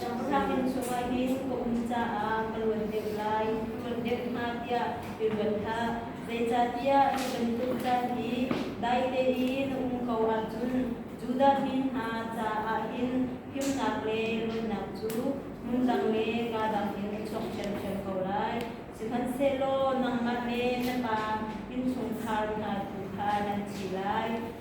Ṭakrang in chawva ngei kum caah ka luat deuh lai, luat deuh hnga tiah i ruat hlah. Zeicahtiah hi bantuk caan hi daite i na um ko ahcun Judah mi hna caah hin himnak le luatnak cu hmun dang le kaa dang in a chuak ṭhiamṭhiam ko lai. Sihmanhsehlaw nangmah le na pa innchungkhar hna tu kha nan thi lai.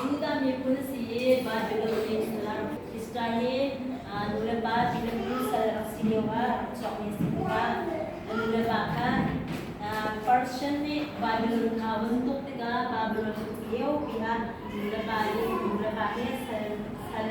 Judah miphun a si i Babilon mi hna Israel mi nulepa tilim cu sal rak si lioah rak chuakmi a si tikah a nulepa kha Persian nih Babilon kha von tuk tikah Babilon a thi liopi ah nulepa nih nulepa he sal sal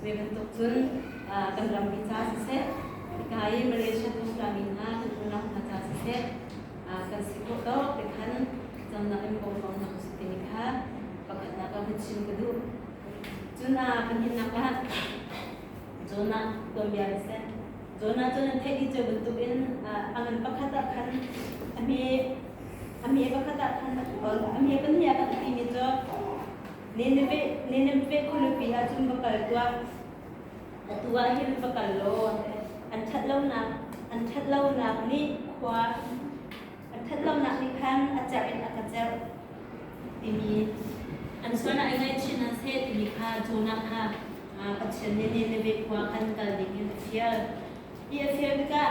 Zei bantuk cun kan rammi ca siseh, hika i Malaysia tuslami hna kan unau hna ca siseh, kan si khawh dawh te khan cangnak in pawm ko hna usih timi kha pakhatnak ah hun chim ka duh. Cun kan himnak ah Jonah tuan bia in seh. Jonah cun an theih dih cu bantukin a ngan pakhat ah khan a me a me pakhat ah khan a kual a me pahnih ah kan timi cu Nineveh khualipi ah cun va kal tuah. Atu ah hin va kal law an ṭhat lonak an ṭhat lonak nih khua an ṭhat lonak nih khan a cerh in a ka cerh timi an sualnak i ngaihchin an seh timi kha Jonah kha Pathian nih Nineveh khua khan kal ding in a fial. Hi a fial tikah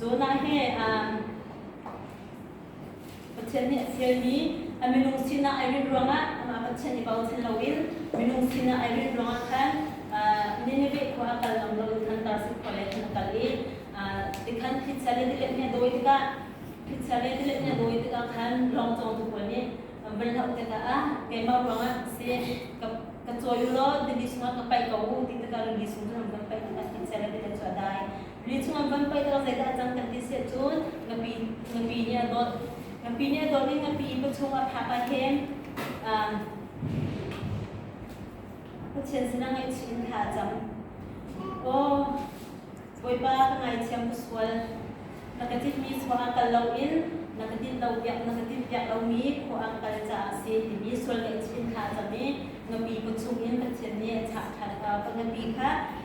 Jonah he Pathian nih a fialmi a minung sinah ai rinh ruangah Pathian i bochan loin minung sinah ai rinh ruangah khan Nineveh khua a kal ngam lo khan Tarsuk khua lei khan a kal i tikhan thitsa le tilet nih a dawi tikah thitsa le tilet nih a dawi tikah khan lawng cawngtu pawl nih van hloh tikah ah keimah ruangah si ka ka cawi u law rili chungah ka paih ko u ti tikah rili sung cun an van paih tikah thitsa le tilet cu a dai Mi chungah van pei tawk zeidah cang kan ti siah cun ngapi ngapi nih a dawt ngapi nih a dawt i ngapi pa chungah phak ah hin Pathian sinah ngaihchih in thla a cam. Aw, Bawipa ka ngaithiam ka sual. Na ka tinhmi khua ah kal loin na ka tinh lo piak na ka tinh piak lomi khua ah kal caah a si timi sual ngaihchih in thla a cam i ngapi pa chungin Pathian nih a chah ṭhan ka ngapi kha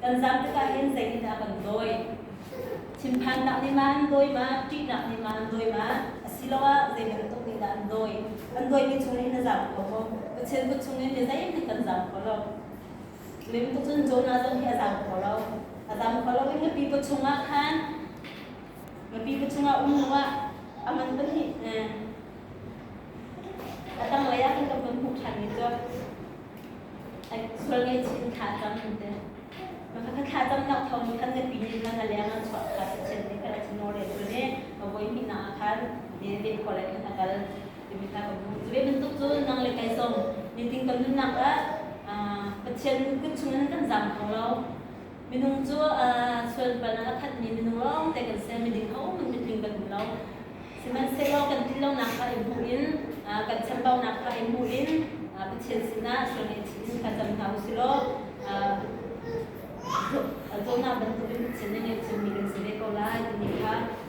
Kan zam tikah hin zeitindah a kan dawi? Thinphannak nih mah an dawi ma? Ṭihnak nih mah an dawi ma? Asiloah zei bantuk nih dah an dawi? An dawimi chungin na zam ko maw? Pathian kut chungin mi zeihmanh kan zam kho lo. Lim kut cun Jonah zong hi a zam kho lo. A zam kho lo i na pipa chungah khan na pipa chungah um law a man pahnih a tanglei ah kan kan hmuh ṭhanmi cu sual ngaihchin thla tam in te ka thla tam nak thau ni khan zapi ni khan aliang an chwa kha se chen ni khala chino re tu ne ka voi mi na khan ni re khol kan akal timi ta ko zu be min tuk zu nang le kai som ni ting kan nun nak a pathian kun chung nan kan zam thong lo Minung cu sualpan ah a khatmi minung lawngte kan si, miding ahohmanh mitling kan um lo. Sihmanhsehlaw kan tlin lonak kha i hmuh in, kan chambaunak kha i hmuh in, Pathian sinah sualngaihchih in thlacam hna u silaw cawhnak bantukin Pathian na ngeihchunmi kan si ve ko lai timi kha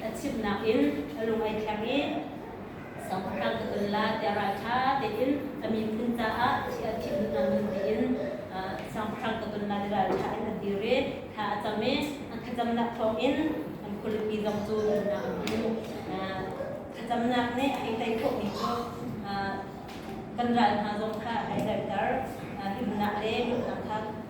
ka chimnak in a lung ai thleng i Siangpahrang ka kal la tiah ral ṭha tein a miphun caah thih a thih hnu hnu tein Siangpahrang ka kal la ti ral ṭha in an dir i thla a cam i a thlacamnak thawngin an khualipi zong cu an nam thlacamnak nih a hei tei khawhmi cu kan ral hna zong kha a hei daihter himnak le nunnak kha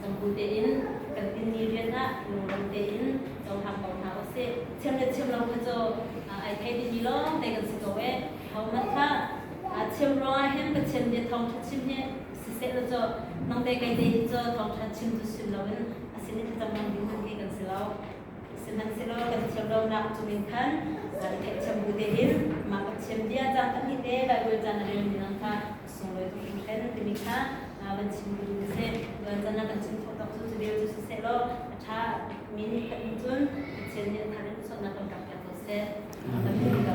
Cangku tein kan tinmi rian ah lungram tein cohlang ko hna usih. Thiam le thiam lo kha cu ai thei dihmi lawngte kan si ko ee. Hohmanh kha chim ruangah hin Pathian nih thawngtha chim hi sisehlaw cu nangte kei te hi cu thawngtha chim cu sim loin a sin i thlacam hmang ding hmanh hi kan si lo. Sihmanhsehlaw kan thiam lonak cungin khan i thehthiam bu tein mah Pathian bia caan pahnih te kan rel caan a relmi nang kha sunglawi tu hrimhlen an timi kha van chim ding a si tuan can ah kan chim khawh tawk cu civil cu siseh law a ṭha min kan in cun Pathian nih a thar in sualnak kan kap piak ko seh kan hmu ko